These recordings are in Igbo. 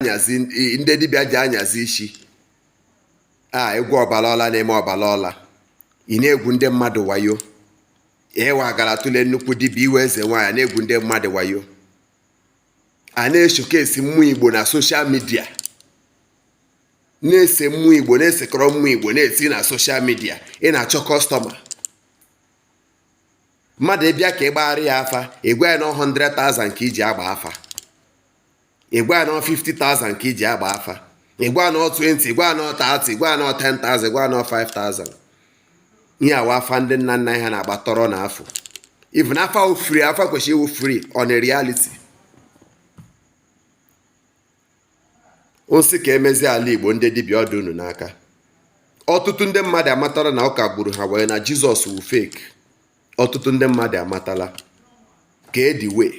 anyazi ndị dibịa ji anyazi isi a egwu ọbara ọla na-eme ọbara ọla ị na-egwu ndị mmadụ wayo ịwa gara tụle nnukwu dibịa ị wụ eze nwaanyị na-egwu ndị mmadụ wayo a na-eshokesi mmụọ igbo na soshal midia na-ese mmụọ igbo na-esekọrọ mmụọ igbo na-esi na soshal midia ị na-achọ kọstọma mmadụ bịa ka ị gbagharị ya afa ị gwa ya na 100,000 ka i ji agba afa ị gwa ya na 50,000 ka i ji agba afa ị gwa ya na 20 ị gwa ya na 30 ị gwa ya na 10,000 ị gwa ya na 5,000 ihe wụ afa ndị nna nna ha na-agba tọrọ na afụ even afa wụ free afa kwesịrị ịwụ free on a reality a sị ka e mezie ala igbo ndị dibịa ọ dị unu n'aka ọtụtụ ndị mmadụ amatala na ụka gburu ha wee na jizọs wụ fake ọtụtụ ndị mmadụ amatala ka edi wee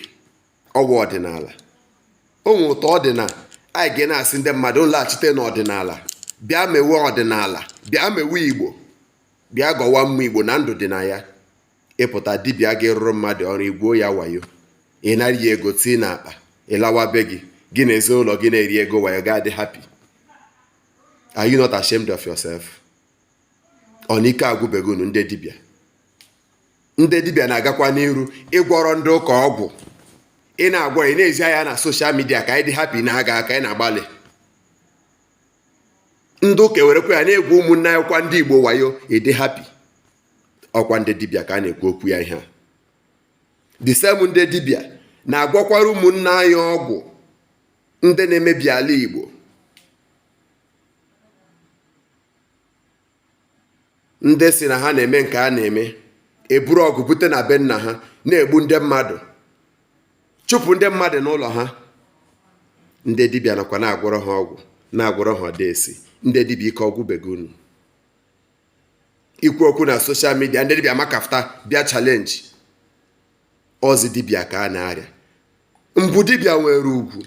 ọwa ọdịnala o nwere otu ọ dị na anyị ga na-asị ndị mmadụ laghachite n'ọdịnala bịa mewe ọdịnala bịa mewe igbo bịa gọwa mma igbo na ndụ dị na ya ị pụta dibịa ga-arụrụ mmadụ ọrụ i gwuo ya wayo ị nara ya ego tii na akpa ị lawa be gị gị na ezinụlọ gị na-eri ego wayo ga-adị happy are you not ashamed of yourself ọ na ike agwụbeghị unu ndị dibịa ndị dibịa na-agakwa n'iru ịgwọrọ ndị ụka ọgwụ ị na-agwọ ị na-ezi anyị na soshal midia ka anyị dị hapi na ha ga aka anyị na-agbalị ndị ụka ewerekwa ya na-egwu ụmụnne anyị kwa ndị igbo wayo ị dị hapi ọ kwa ndị dibịa ka a na-ekwu okwu ya ihe a the same ndị dibịa na-agwọkwara ụmụnne anyị ọgwụ ndị na-emebi ala igbo ndị sị na ha na-eme nke a na-eme eburu ọgụ bute na be nna ha na-egbu ndị mmadụ chụpụ ndị mmadụ n'ụlọ ha ndị dibịa nakwa na-agwọrọ ha ọgwụ na-agwọrọ ha ọdeshi ndị dibịa ike ọ gwụbeghị unu ikwu okwu na soshal midia ndị dibịa maka afta bịa chalenji ọzi dibịa ka a na-arịa mbụ dibịa nwere ugwu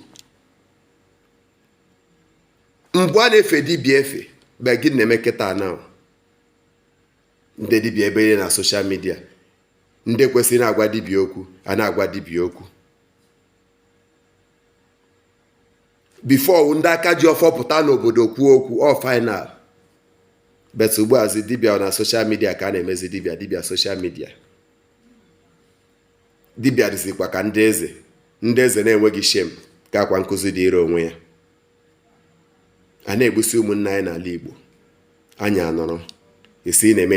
mgbe a na-efe dibịa efe bet gịnị na-eme kịta a na-ahụ ndị dibịa ebe niile na soshal midia ndị ekwesịghị na-agwa dibịa okwu a na-agwa dibịa okwu bifo ndị aka ji ọfọ pụta n'obodo kwuo okwu ọ fainal bet ugbuazi dibia na soshal midia ka a na-emezi dibia dibia soshal midia dibịa dịzikwa ka ndị eze ndị eze na-enweghị shem ka akwa nkụzi dịịrị onwe ya a na-egbusi ụmụnna anyị n'ala Igbo anyị anọrọ esi na-eme